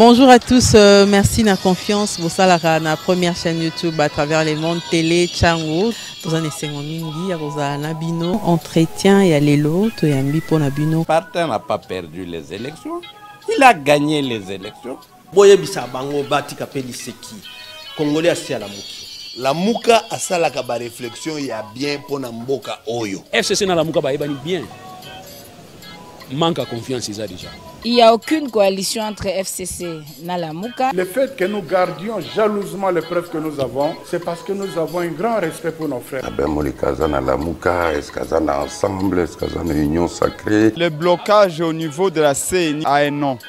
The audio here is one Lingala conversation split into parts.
Bonjour à tous, euh, merci na confiance bosalaka na première chaîne YouTube à travers les mondes télé Chango toza na esengo mingi ya kozala na bino entretien ya lelo toyambi mpo na bino. Parti n'a pas perdu les élections, il a gagné les élections. boyebisa bango batika mpe liseki kongole asi alamuki lamuka asalaka bareflexion ya bien mpo na mboka oyo fcc na lamuka bayebani bien manque à confiance eza déjà Il n'y a aucune coalition entre FCC et Nalamuka. Le fait que nous gardions jalousement les preuves que nous avons, c'est parce que nous avons un grand respect pour nos frères. Ben Molikaza Nalamuka, est-ce ensemble, est-ce union sacrée Le blocage au niveau de la CENI a un nom.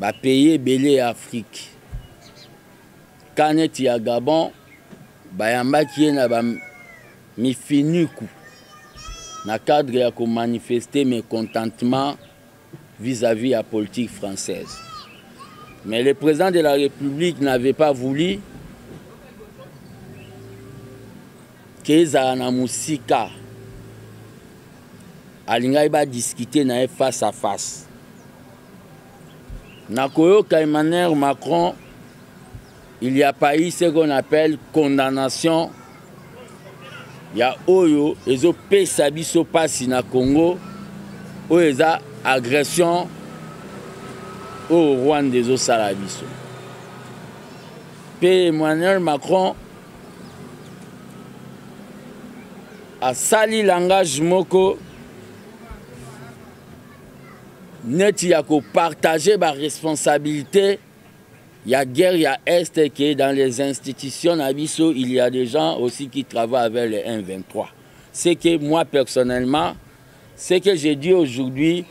ba pays ebele ya afrique ka neti ya gabon bayambaki ye na bamifiniku na cadre ya komanifeste mécontentement vis-à-vis ya politique française mais le président de la république n'avait pas voulu ke ezala na mosika alingaki badiscute na ye face à face na koyoka emmanuel macron il y a pas eu ce qu'on appelle condamnation ya oyo ezopesa biso mpasi na congo oyo eza agression oyo rwanda ezosala biso mpe emmanuel macron asali langage moko neti ya kopartage baresponsabilité ya guerre ya est ke dans les institutions na biso il y a des gens aussi qui travaillent avec le 123 c'est que moi personnellement ce que je dis aujourd'hui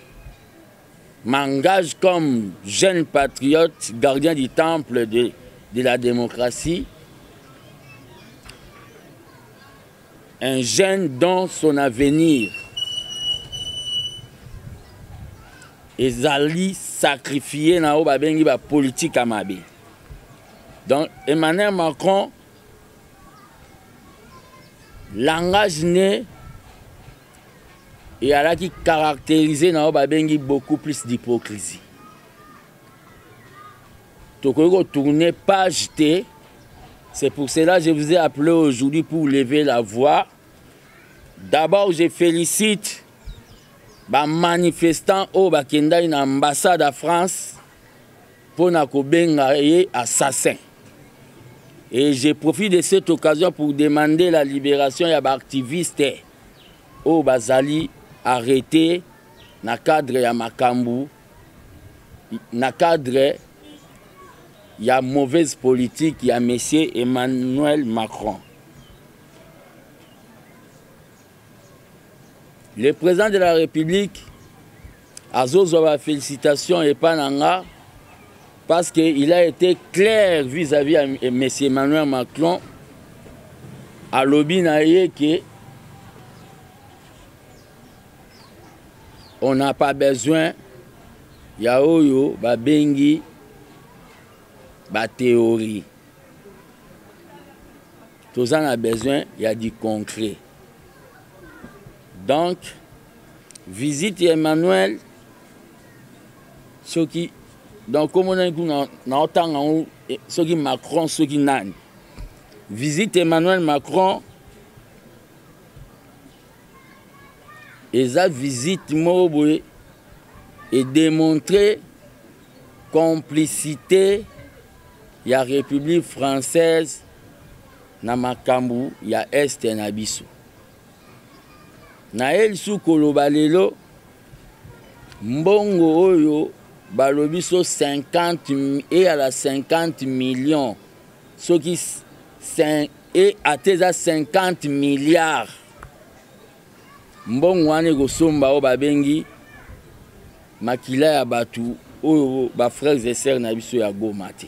m'engage comme jeune patriote, gardien du temple de, de la démocratie, un jeune dont son avenir ezali sacrifié na oyo babengi bapolitike ya mabe donc emmanuel macron langage ne et alaki caractérisé na oyo babengi beaucoup plus d'hypocrisie tokoki kotourne page te c'est pour cela je vous ai appelé aujourd'hui pour lever la voix d'abord je félicite bamanifestant oyo bakendaki na ambassade ya france mpo na kobenga ye assassin et je profite de cette occasion pour demander la libération ya baactiviste oyo bazali arrete na cadre ya makambu na cadre ya mauvaise politique ya monsieur Emmanuel Macron. Le président de la République azozwa ba félicitation epa na nga parce que il a été clair vis-à-vis ya eh, monsieur emmanuel macron alobi na ye ke on n'a pas besoin ya oyo babengi bateori toza na besoin ya du concret donc visite ya emmanuel soki donc komonani kuna naotanga yango e, soki macron soki nani visite emmanuel macron eza visite moko boye edemontre complicité ya république française na makambo ya este na biso. Naye lisusu koloba lelo mbongo oyo balobi so 50 eyala 50 millions soki e ata eza 50 milliards mbongo wana ekosomba oyo babengi makila ya bato oyo bafrères et sœurs na biso ya goma te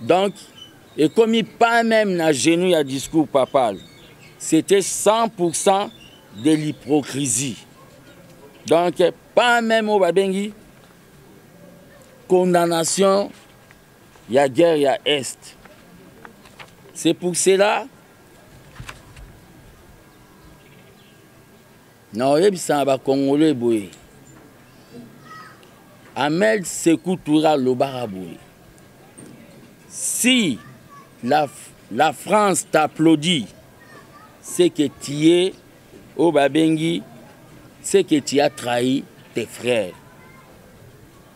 donc ekomi pas même na genou ya discours papal c'était 100 pourcent de l'hypocrisie donc pas même oyo babengi condamnation ya guerre ya est c'est pour cela Na oyebisa na ba congolais boye. Ahmed Sekou Touré alobaka boye. Si la, la France t'applaudit, c'est que tu es au oh, Babengi, c'est que tu as trahi tes frères.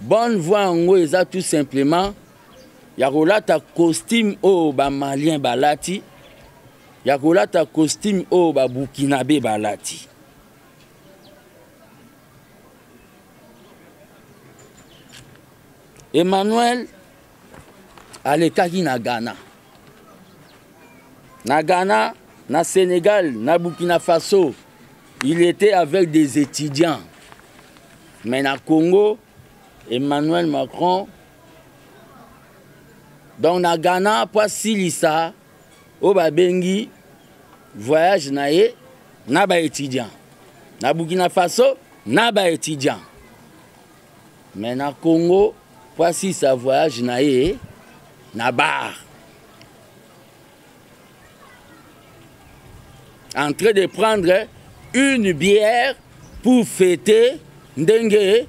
Bonne voix yango eza tout simplement ya kolata costume oyo ba malien balati ya kolata costume oyo ba burkinabe balati Emmanuel alekaki na ghana na ghana na sénégal na burkina faso il était avec des étudiants mais na congo emmanuel macron donc na ghana mpo asilisa oyo babengi voyage na ye na baétudiant na burkina faso na baétudiant Mais na Congo mpo asisa voyage na ye na bar en train de prendre une bière pour fêter ndenge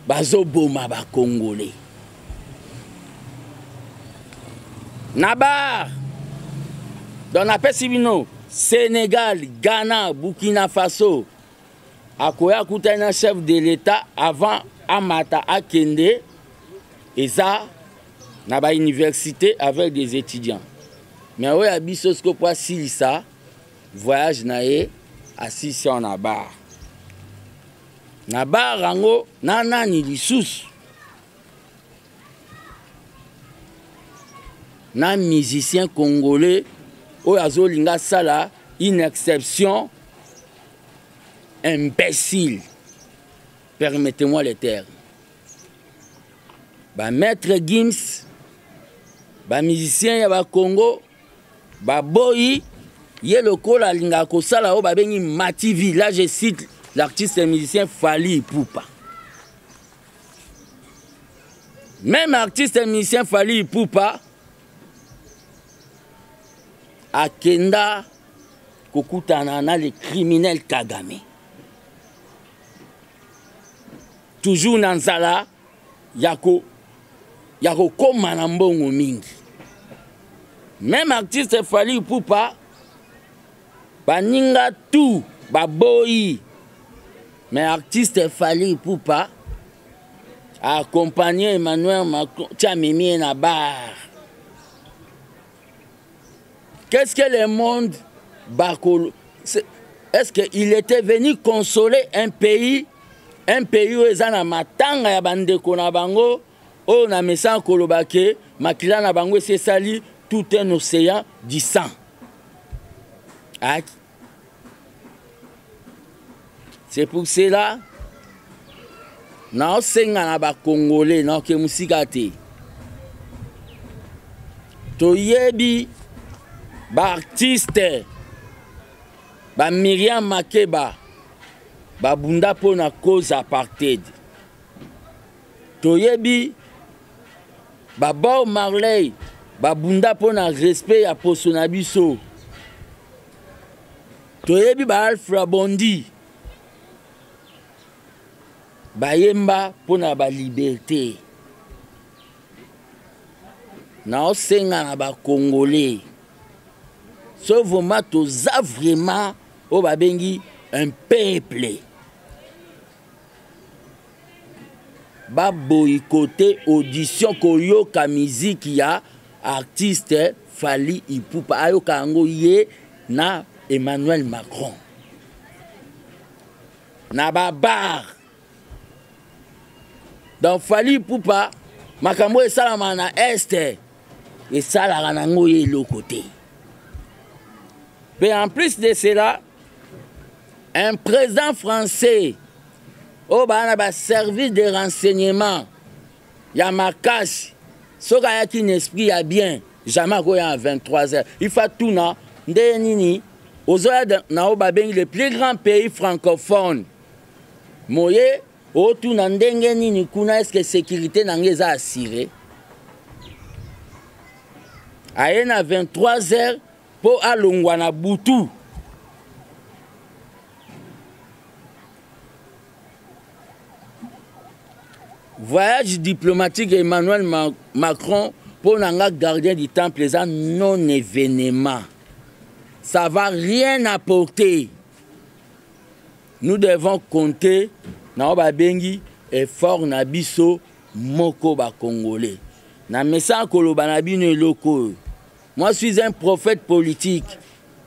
bazoboma bacongolais na bar donc napesi bino sénégal ghana burkina faso akoya akutani na chef de l'etat avant amata akende eza na bauniversité avec des étudiants me oyo ya biso siko mpo asilisa voyage na ye asilisi awa na bar na bar yango na nani lisusu na musicien congolais oyo azolinga asala une exception imbécile permettez-moi le terme bamaître gims bamusicien ya bakongo baboyi ye lokola alingaka kosala oyo babengi mativi là je cite l'artiste et musicien fali ipupa même artiste et musicien fali ipupa akenda kokutana na le criminel kagame toujours na nzala ya ko ya kokoma na mbongo mingi meme artiste fali pupa baninga tout baboyi mais artiste fali pupa accompagner Emmanuel Macron, tu as mimi na bar. Qu'est-ce que le monde bakolo Est-ce qu'il était venu consoler un pays un pays oyo eza na matanga ya bandeko na bango oyo na mesa koloba ke makila na bango esi esali tout un océan du sang c'est pour cela naosenga na bacongolais naoke mosika te toyebi baartiste ba miriam makeba babunda mpo na cause apartheid toyebi ba bob marley babunda mpo na respect ya poso na biso toyebi ba alfra bondi bayemba mpo na baliberte naosenga na bacongolais so vraimen toza vraimen oyo babengi un peuple ba boycotter audition koyoka musique ya artiste Fally Ipupa ayoka yango ye na Emmanuel Macron na ba bar donc Fally Ipupa makambo oyo esalamaka na este esalaka nango ye eloko te mpe en plus de cela un président français oyo oh, baa na baservice de renseignement ya makasi soki ayaki na esprit ya bien jamais akoya na 23 heures ifa tuna ndenge nini ozoya na oyo babengi le plus grand pays francophone moye otuna ndenge nini kuna eske sécurité na ngai eza assire aye na 23 heures mpo alongwa na butu voyage diplomatique ya emmanuel Ma macron mpo na nga gardien du temple eza non événement ça va rien apporter nous devons compter na oyo babengi effort na biso moko bacongolais na mesa koloba na bino eloko oyo Moi suis un prophète politique.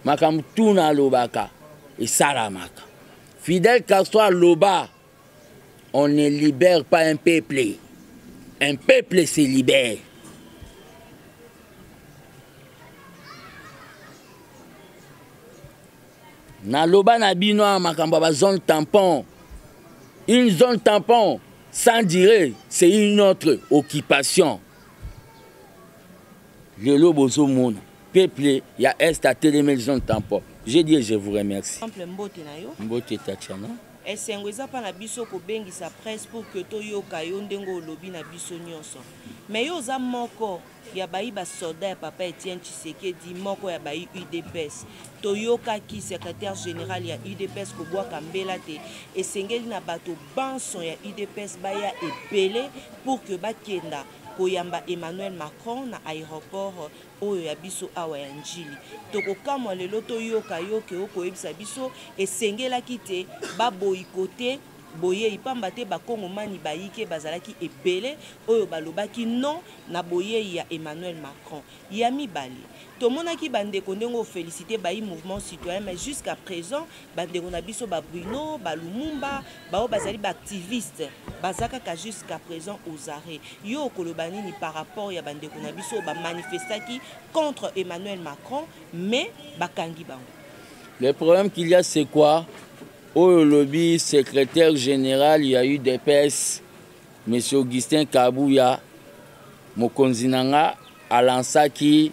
Makambo tuna alobaka esalamaka. Fidel Castro aloba on ne libère pas un peuple. Un peuple se libère. naloba na bino ya makambo ya bazone tampon une zone tampon sans dire c'est une autre occupation Lelo bozo mona peuple ya est atelemeli zone tampon je dis je vous remercie temple mbote na yo mbote tatiana esengo eza mpa na biso kobengisa presse pour que toyoka yo ndenge olobi na biso nyonso mais yo oza moko ya bayi basoda ya papa etienne tshisekedi moko ya bayi udps toyokaki secrétaire général ya udps kobwaka mbela te esengeli na bato banso ya udps baya ebele pour que bakenda koyamba Emmanuel Macron na aeroport oyo ya biso awa ya Ndjili. Tokokamwa lelo toyoka yo ke okoyebisa biso esengelaki te ba boycotter boyei pamba te bakongomani bayike bazalaki ebele oyo balobaki non na boyei ya Emmanuel Macron. Ya mibale, tomonaki bandeko ndenge ofelicite bayi mouvement citoyen mais jusqu'à présent bandeko na biso ba Bruno ba Lumumba baoyo bazali ba activiste baza kaka jusqu'à présent aux arrêts yo okoloba nini par rapport ya bandeko na biso ba manifestaki contre Emmanuel Macron mais bakangi bango le problème qu'il y a c'est quoi oyo olobi secrétaire général ya udps monsieur augustin kabuya mokonzi na nga alansaki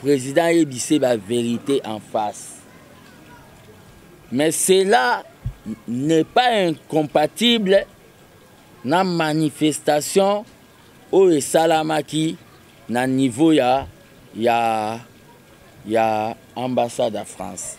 President ayebise ba verite en face. Mais cela n'est pas incompatible na manifestation oyo esalamaki na niveau ya ya ya ambassade ya France.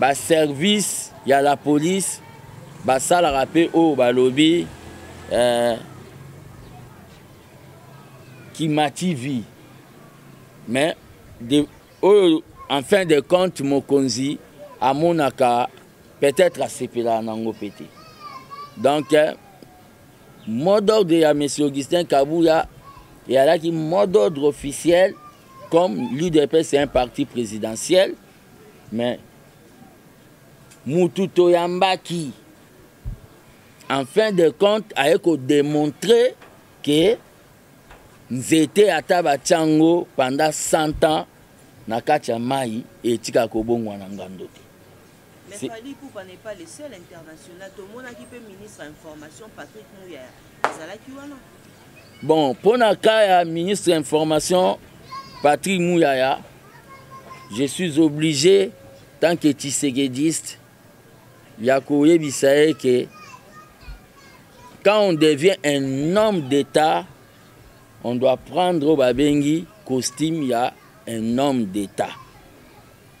ba service ya la police basalaka mpe oyo balobi eh, kima tv mais de, oyo en fin de compte mokonzi amonaka peut-être asepelaka nango mpe te donc eh, mot d'ordre ya monsieur augustin kabuya eyalaki mot d'ordre officiel comme l'udps est un parti présidentiel Mais mutu toyambaki en fin de compte aye kodemontre ke nzete ata batya yango pendant 100 ans na kati ya mai etika kobongwa na ngando te Mais Fally Ipupa n'est pas le seul international. Tomonaki pe ministre ya information Patrick Muyaya azalaki wana. Bon, mpo na cas ya ministre ya information Patrick Muyaya je suis obligé tant que tshisekediste ya koyebisa ye ke quand on devient un homme d'état on doit prendre oyo babengi costume ya un homme d'état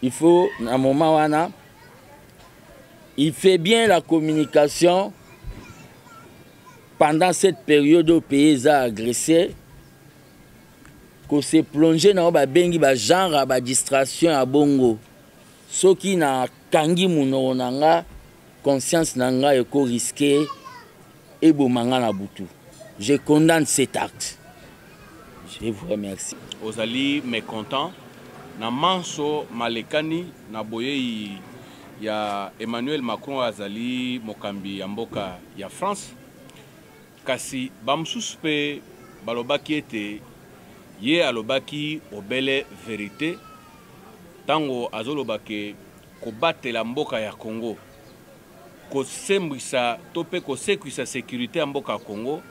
il faut na moment wana il fait bien la communication pendant cette période oyo pays eza agressé ko se plonger na oyo babengi ba genre ya ba distraction ya bongo soki nakangi monoko na nga conscience na nga eko riske eboma nga na butu je condamne cet acte je vous remercie ozali mécontent na manso malekani na boyei ya emmanuel macron azali mokambi ya mboka ya france Kasi bamosusu mpe balobaki ete, Ye alobaki obele verite ntango azoloba ke kobatela mboka ya Congo, kosembwisa to mpe kosekwisa securite ya mboka ya Congo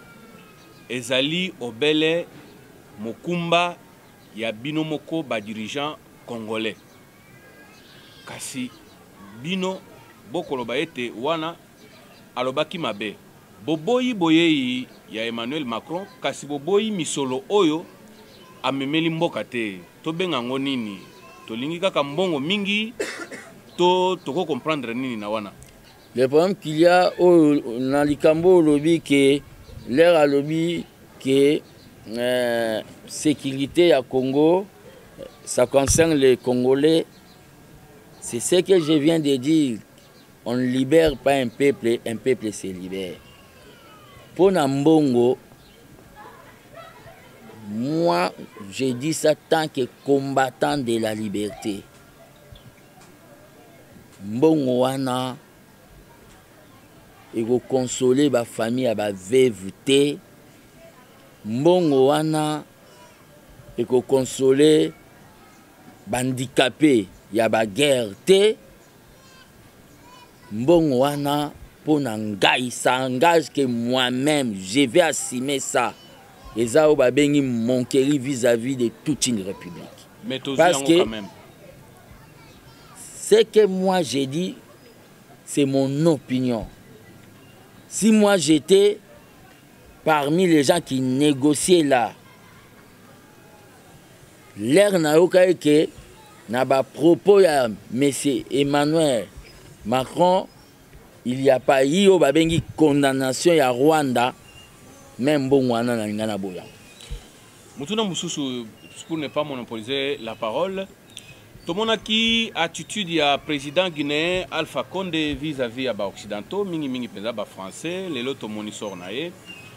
ezali obele mokumba ya bino moko ba dirigeants congolais. Kasi bino bokoloba ete wana Alobaki mabe. Boboyi boyei ya Emmanuel Macron kasi boboyi misolo oyo amemeli mboka te. Tobenga yango nini? Tolingi kaka mbongo mingi to toko comprendre nini na wana? Le problème qu'il y a oyo na likambo olobi ke lere alobi ke euh, sécurité ya Congo ça concerne les Congolais c'est ce que je viens de dire On ne libère pas un peuple, un peuple se libère. Mpo na mbongo, moi, je dis ça tant que combattant de la liberté. Mbongo wana ekokonsole bafamille ya baveve te mbongo wana ekokonsole bandikape ya baguerre te mbongo wana mpo na ngai ça engage que moi-même je vais assumer ça eza oyo babengi monkeri vis-à-vis de toute une république Mais parce que ce que moi j'ai dit c'est mon opinion si moi j'étais parmi les gens qui négociaient là Lere nayokaki ke na ba propos ya monsieur Emmanuel Macron il y a pas ye oyo babengi condamnation ya Rwanda me mbongo wana nalinga na boya motuna mosusu pour ne pas monopoliser la parole tomonaki attitude ya président guinéen alpha conde vis-à-vis ya baoccidentaux mingimingi mpenza bafrançais lelo tomoni sor na ye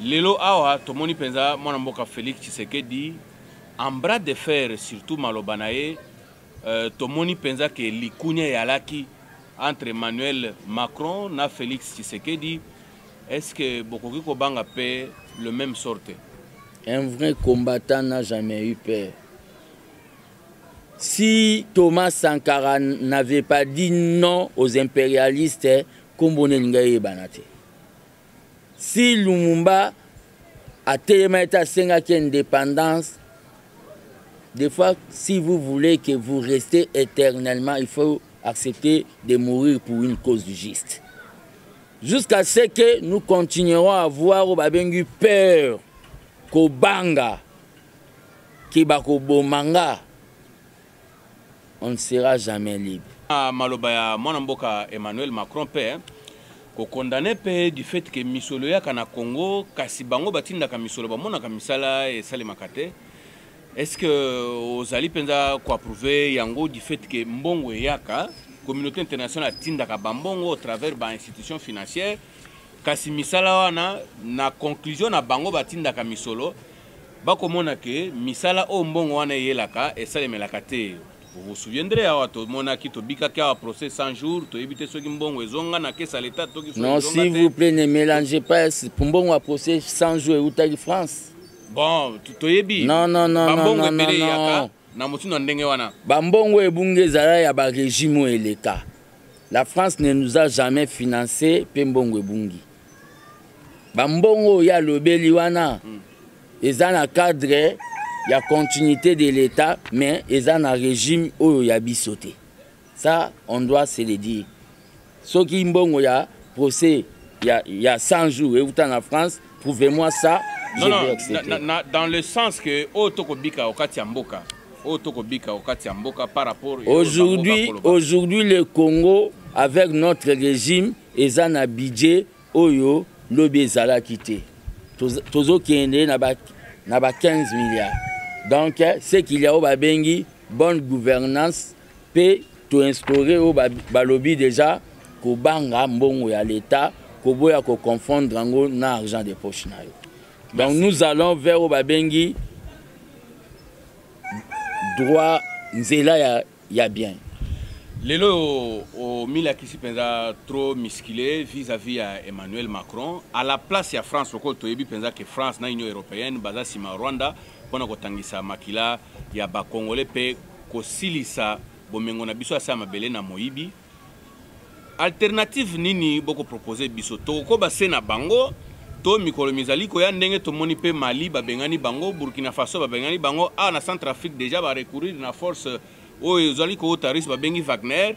Lelo awa tomoni mpenza mwana mboka Felix Tshisekedi en bras de fer surtout maloba na ye euh, tomoni mpenza ke likunya eyalaki entre Emmanuel Macron na Felix Tshisekedi est-ce que bokoki kobanga mpe le même sorte un vrai combattant n'a jamais eu peur si Thomas Sankara n'avait pas dit non aux impérialistes kombo nini ngai eyebana te Si Lumumba atelemaki te asengaki indépendance des fois si vous voulez que vous restez éternellement il faut accepter de mourir pour une cause juste jusqu'à ce que nous continuerons à voir oyo babengi peur kobanga ke bakoboma nga on ne sera jamais libre. Ah, maloba ya mwana mboka Emmanuel Macron pe hein. ko condamner pe du fait que misolo yaka na Congo kasi bango batindaka misolo bamonaka misala esalemaka te. Est-ce que euh, ozali penza ko approuver yango du fait que mbongo eyaka communauté internationale atindaka bambongo au travers ba institutions financières kasi misala wana na conclusion na bango batindaka misolo Bakomona que misala oyo mbongo wana eyelaka esalemelaka te. Vous vous souviendrez awa tomonaki tobikaki awa procès 100 jours toyebi te soki mbongo ezonga na caisse ya l'etat toki soki Non, ezonga s'il te. vous plaît, ne mélangez pas. Mbongo ya procès 100 jours eutaki France. Bon, to- toyebi Non, non, non, non, bambongo non, non, ebele eyaka non. na motindo ya ndenge wana bambongo ebungi ezala ya baregime oyo eleka la france ne nous a jamais financé mpe mbongo ebungi bambongo oyo alobeli wana mm. eza na cadre ya continuité de l'état mais eza na regime oyo ya biso te Ça on doit se le dire. Soki mbongo ya procès ya ya 100 jours et uta na France, prouvez-moi ça. Non, non, na, na, na, dans le sens que oyo tokobika okati ya mboka oyo tokobika okati ya mboka par rapport aujourd'hui aujourd'hui le Congo avec notre régime eza na budget oyo lobi ezalaki te tozokende na ba na ba 15 milliards donc ce qu'il y a oyo babengi bonne gouvernance mpe toinstaure oyo balobi deja kobanga mbongo ya leta koboya koconfondre yango na argent de poche na yo donc nous allons vers oyo babengi droit nzela ya, ya bien lelo oyo omilakisi mpenza trop muscule vis-à-vis ya emmanuel macron à la place ya france lokola toyebi mpenza ke france na union européenne baza nsima rwanda mpo na kotangisa makila ya bacongolais mpe kosilisa bomengo na biso ya se ya mabele na moyibi alternative nini boko propose biso tokokoba se na bango to mikolo mizali koya ndenge tomoni mpe mali babengani bango burkina faso babengani bango awa ah, na centre afrique déjà barecourir na force oyo ezali kowuta russe babengi wagner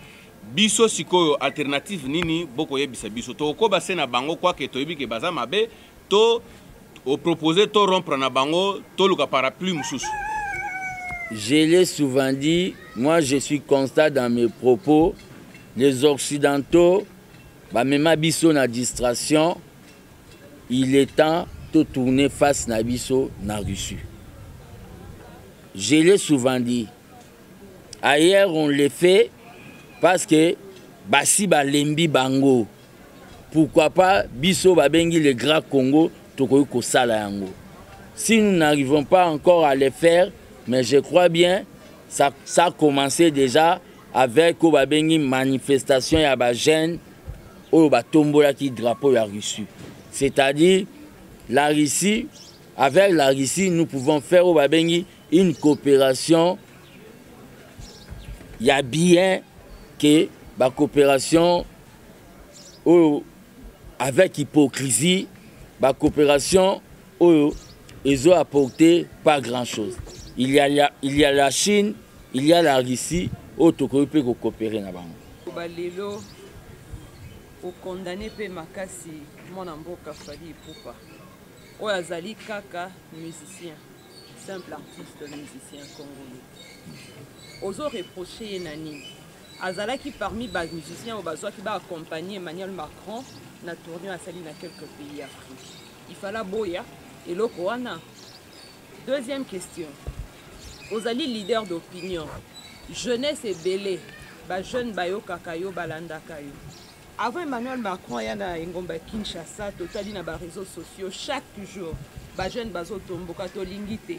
biso sikoyo alternative nini bokoyebisa biso tokokoba se na bango kwake toyebi ke baza mabe to o proposer to rompre na bango toluka parapluie mosusu je l'ai souvent dit moi je suis constat dans mes propos les occidentaux bamema biso na distraction il est temps totourne face na biso na russie je l'ai souvent dit ailleurs on le fait parce que basi balembi bango pourquoi pas biso babengi le grand congo tokoki kosala yango si nous n'arrivons pas encore à le faire mais je crois bien ça, ça commencé déjà avec oyo babengi manifestation ya bajeune oyo batombolaki drapeau ya russie c'est-à-dire la russie avec la russie nous pouvons faire oyo babengi une coopération ya bien que bacoopération oyo avec hypocrisie ba coopération oyo ezo apporter pas grand chose il y a la, il y a la Chine il y a la Russie oyo tokoki mpe kokopere na bango balelo okondane mpe makasi mwana mboka fali epupa oyo azali kaka musicien simple artiste musicien congolais ozo reproche ye na nini Azalaki parmi ba musiciens oyo bazwaki ba accompagner Emmanuel Macron na tournoi asali na quelques pays ya Afrique. Il fallait boya eloko wana. Deuxième question. Ozali leader d'opinion. Jeunesse ebele ba jeunes bayokaka yo balandaka yo. Avant Emmanuel Macron aya na engomba Kinshasa totali na ba réseaux sociaux chaque jour ba jeunes bazotomboka tolingi te.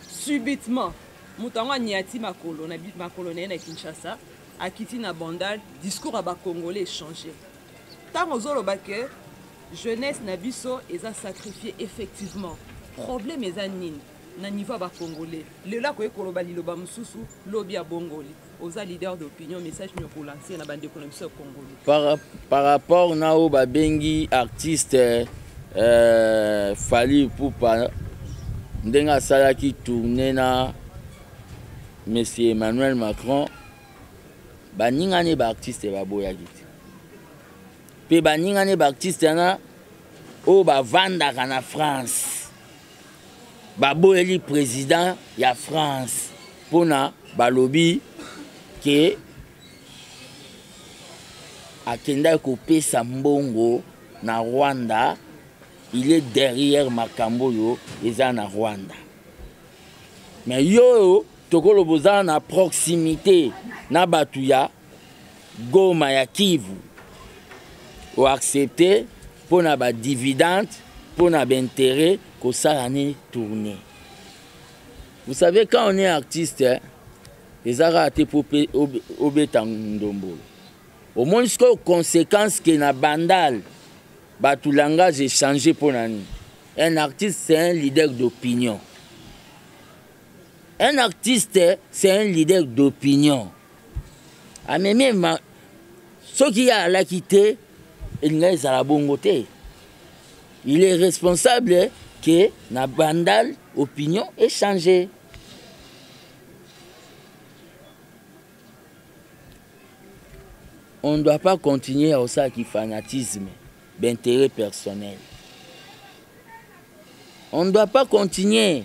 Subitement moto yango aniati makolo na makolo na ye na kinshasa akiti na bandal discours ya bacongolais echange ntango ozoloba ke jeunesse na biso eza sacrifie effectivement problème eza nini na niveau ya bacongolais lelo akoki koloba liloba mosusu lobi abongoli oza leader d'opinion message nini okolanse na bandeko na biso ya congolais par, par rapport na oyo babengi artiste euh, fali pupa ndenge asalaki tourne na monsieur emmanuel macron baninga ne baartiste baboyaki te mpe baninga ne baartiste wana oyo bavandaka na france baboyeli président ya france mpona balobi ke akendaki kopesa mbongo na rwanda il est derrière makambo oyo eza na rwanda me yo oyo tokoloba oza na proximité na bato ya Goma ya Kivu o accepter mpo na ba dividendes mpo na ba intérêts kosala ni tourner. Vous savez quand on est artiste hein, ezaka te mpo obeta ndombolo omoni sikoyo conséquence ke na bandal bato langage echange mpo na nini un artiste c'est un leader d'opinion un artiste c'est un leader d'opinion amemi ma soki ye alaki te elinga ezala bongo te il est responsable que na bandal opinion echange on ne doit pas continuer à ça qui fanatisme d'intérêt personnel on ne doit pas continuer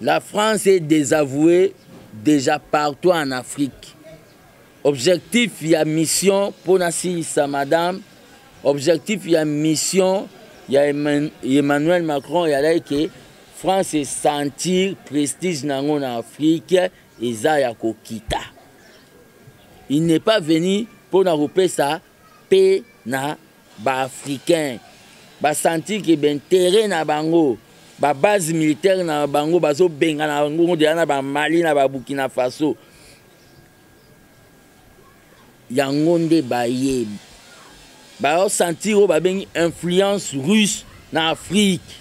La France est désavouée déjà partout en Afrique. Objectif ya mission pona silisa madame, objectif ya mission ya Emmanuel Macron ya like France est sentir prestige nango na Afrique eza ya kokita. Il n'est pas venu pona kopesa mpe na ba africain ba sentir que ba interet na bango ba base militaire na bango bazobengana bango deja na ba mali na ba burkina faso yango nde baye baosentir oyo babengi influence russe na afrique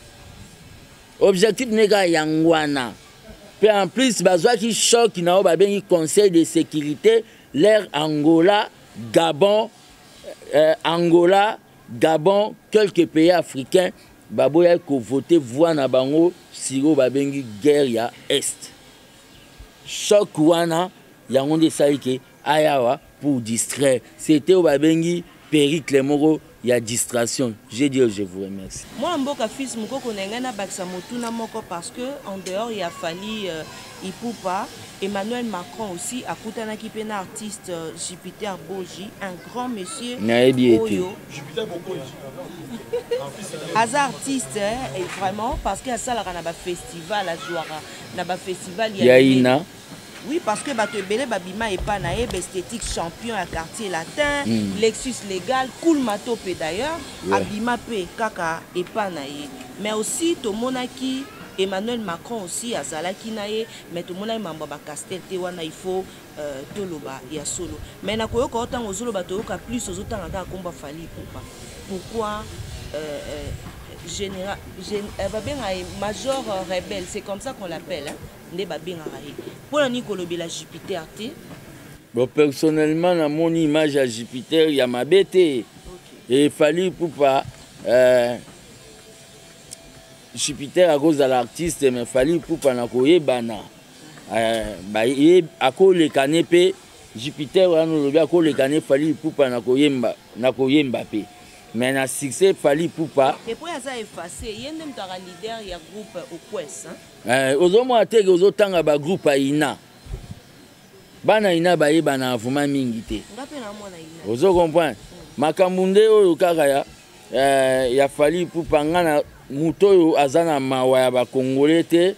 objectif nde kaka yango wana mpe en plus bazwaki choc na oyo babengi conseil de sécurité lere angola Gabon, euh, Angola, Gabon, quelques pays africains baboyaki kovote voix na bango siro babengi guerre ya est choc wana yango nde esali ke ayawa pour distraire sete oyo babengi pericle moko ya distration je dis je vous remercie mwana mboka fils mokoko na ngai nabakisa motuna moko parce que en dehors ya fali euh, ipupa emmanuel macron aussi akutanaki mpe na artiste euh, jupiter boji un grand monsieur nayebi ete aza artiste eh, et vraiment parce que asalaka na bafestival azwaka na bafestival ya ina Oui, parce que bato ebele babima epa na ye bestetique champion ya quartier latin mm. lexus légal cool mato mpe d'ailleurs yeah. abima mpe kaka epa na ye mais aussi tomonaki emmanuel macron aussi azalaki na ye mais tomonaki mambo ya bacastel te wana il faut euh, toloba ya solo mais nakoyoka o ntango ozoloba toyoka plus ozotanga kaka komba fali popa pourquoi euh, euh, général, gén, euh, babenga ye major euh, rebelle c'est comme ça qu'on l'appelle hein? nde babengaka ye mpo na nini kolobela jupiter te bon personnellement namoni image ya jupiter ya mabe te okay. efali ipupa euh, jupiter akozala artiste mais fali ipupa na koyebana euh, akoleka ne mpe jupiter wana olobi akoleka ne fali ipupa na koyemba na koyemba mpe mais na succès fali ipupa epo aza efface ye nde moto aka leader ya groupe oquest Eh, ozomona teke ozotanga bagroupe ya ina bana ina bayebana avuma mingi te ozo comprendre makambo nde oyo kaka ya, eh, ya fali pupa nga na moto oyo aza na mawa ya bakongole te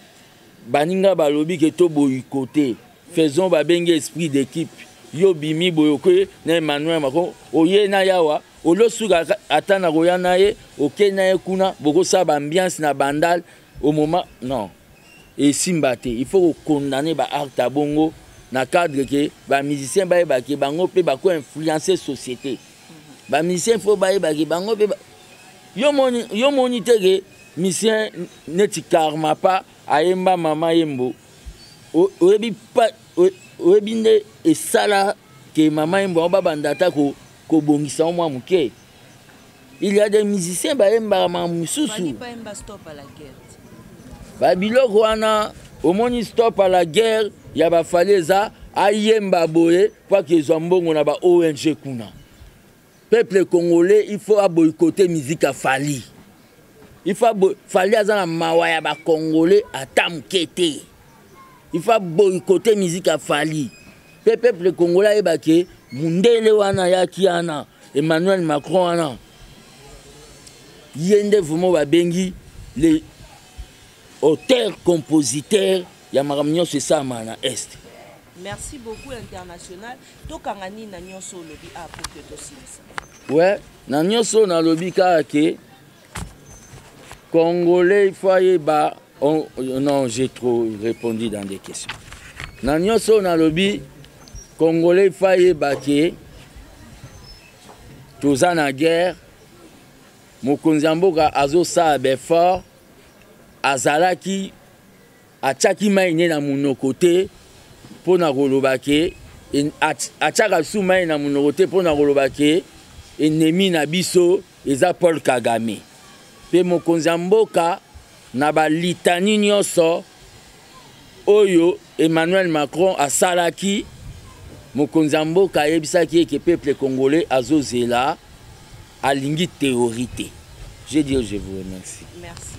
baninga balobi ke to boyiko te faisons babengi esprit d'équipe yo bimi boyoke na emmanuel mako oye na yawa olosuka ata nakoya na ye oke na ye kuna bokosala baambiance na bandal au moment non esimba te il faut kokondane baarte ya bongo na cadre ke bamusicien bayeba ke bango mpe bako influence société mhm. bamusicien fo bayeba ke bango mpe yo moni te ke musicien neti karma pa ayemba mama yembo oyebi pa oyebi nde esala ke mama yembo yango babanda ata kobongisa yango mwa moke il y a des musiciens bayembaka maka mosusu babiloko wana omoni stop à la guerre ya bafali eza ayemba boye mpo ake ezwa mbongo na ba ong kuna peuple congolais il faut aboycote musique ya fali il faut fali aza na mawa ya bacongolais ata moke te il faut boycotter musique ya fali mpe peuple congolais ayeba ke mundele wana ayaki wana emmanuel macron wana ye nde vraimen babengi le auteur compositeur ya makambo nyonso esalama na est merci beaucoup international tokanga nini na nyonso olobi a ah, pour que tosilisa we na nyonso oyo nalobi kaka ke Congolais, il faut ayeba. On, non, j'ai trop répondu dans des questions. Na nyonso na lobi, Congolais, il faut ayeba que toza na guerre, mokonzi ya mboka azosala befort, azalaki atyaki mai ne na monoko te mpo na koloba ke atyaka su mai na monoko te mpo na koloba ke enemi na biso eza paul kagame mpe mokonzi ya mboka na balitani nyonso oyo emmanuel macron asalaki mokonzi ya mboka ayebisaki eke peuple congolais azozela alingi théorie te je dis je vous remercie Merci.